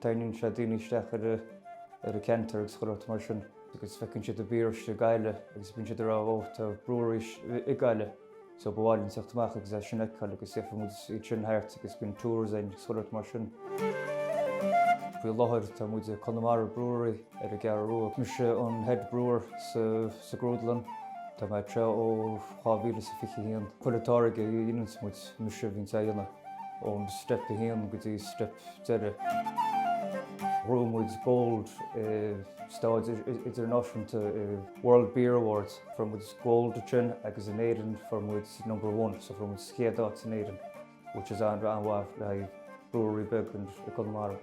Tarraingíonn sé daoine isteach ar an gceantar agus chuile shórt mar sin agus feiceann siad an beer istigh i nGaillimh agus bíonn siad ag rá oh tá brewery sa gCeathrú so ba mhaith linn teacht amach agus é sin a fheiceáil agus dhéanfaidh muid iad sin thart agus bíonn tours againn agus chuile shórt mar sin. Faoi láthair tá muid ag Conamara Brewery ar an gCeathrú Rua. Mise an head brewer sa Grúdlann Tá mé ag treabhadh ó 2021. Chuile táirge a dhéanann muid, mise a bhíonn á dhéanamh. Ón Step 1 go dtí Step Deireadh. Bhuaigh muid Gold ar stáitse Idirnáisiúnta i World Beer Awards. Fuair muid Gold ansin agus in Éirinn fuair muid Number One, so fuair muid an chéad áit in Éirinn, which is an-mhaith le haghaidh brewery beag in Conamara.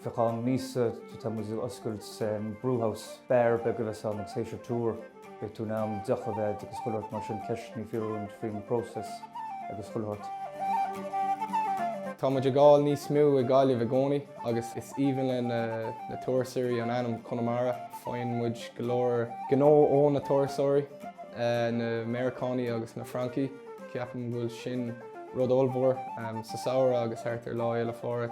Faoi cheann míosa, tá muid ag oscailt Brewhouse, beár beag a bheas ann agus théis an tour. Beidh tú in ann deoch a bheith agus chuile shórt mar sin, ceisteanna a fhiafraí faoin bpróiseas agus chuile shórt. Tá muid ag fáil níos mó i Gaillimh i gcónaí agus is aoibhinn le na turasóirí an ainm Conamara. Faigheann muid go leor gnó ó na turasóirí, eh, na Meiriceánaigh agus na Francaigh. Ceapaim go bhfuil sin rud ollmhór um, sa samhradh agus thart ar Lá Fhéile Pádraig.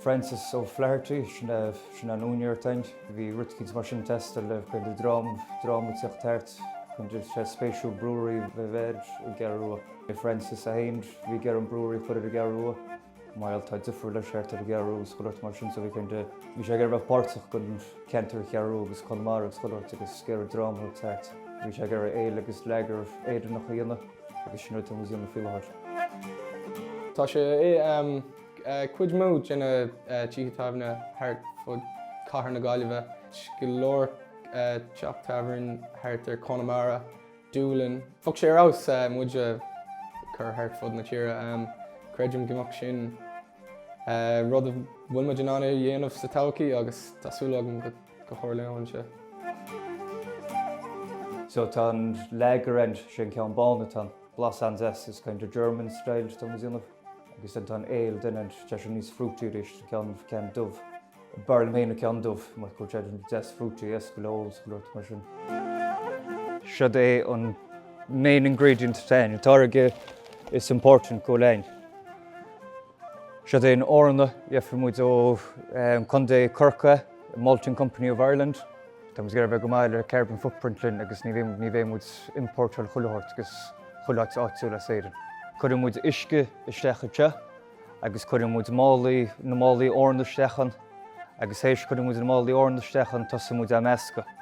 Francis O'Flaherty, sin, uh, sin an úinéir atá againn. Bhí rud eicínt mar sin Tester le Caoimhe Drom, dráma ag teacht thart chun dil sé spéisiúil Brewery bheith bheir i gCiarraí. Bhí Francis 1, bhí Garum Brewery chuir i gCiarraí. Mile tá difriúil le seart ar Chiarraí agus chuirt mar sin so bhí cinnte, bhí sé ag bheith páirteach gon ceantar Chiarraí agus Conamara agus chuirt agus géar dráma ag teacht. Bhí sé ag iarraidh éil agus leagar Éireannach a dhéanamh agus sin rud a bhí muid dhéanamh faoi láthair. Tá sé i am. Cuid mhór de na tithe tábhairne thart fud chathair na Gaillimhe, go leor teach tábhairne thart ar Chonamara, Dúlainn. Bheadh sé ar fheabhas muid a chur thart fud na tíre. Creidim go mbeadh sin rud a bhfuil muid in ann a dhéanamh sa todhchaí agus tá súil agam go dtarlaíonn sé. So tá an lager againn, sin ceann bán atá, blas an-deas is kind of German style atá muid a dhéanamh. agus then tá an ale an-deas níos fruity agus sin é an ceann dubh, b'fhearr liom féin an ceann dubh, mar go bhfuil sé an-deas fruity a fheiceáil go leothaileach, agus chuile shórt mar sin. Seod é an main ingredient atá againn, an táirge is important go léir. Seod é an eorna, gheobhaidh muid ó Chontae Chorcaí. Malting Company of Ireland, Tá muid ag iarraidh a bheith go maith le carbon footprint linn agus ní bhíonn, ní bheidh muid ag iompórtáil chuile shórt agus chuile shórt áitiúil as Éirinn. Cuireann muid uisce isteach anseo agus cuireann muid málaí, na málaí eorna isteach ann agus tar éis cuireann muid na málaí eorna isteach ann tosaíonn muid á meascadh.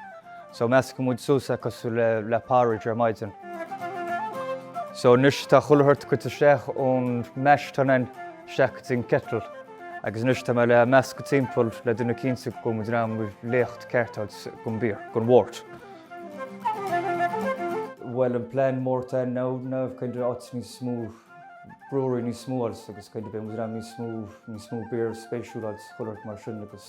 So meascann muid suas é cosúil le, le porridge ar maidin. So anois tá chuile shórt curtha isteach ón mash, téann isteach go dtí an kettle. Agus anois tá mé le meascadh timpeall le déanamh cinnte go bhfuil muid in ann an leacht ceart a fháil don beer, don wort. Bhuel, an plean mór atá ann ná kind of áit níos mó brewery níos mó a fháil agus kind of beidh muid in ann níos mó, níos mó beer spéisiúil a fháil is chuile shórt mar sin agus.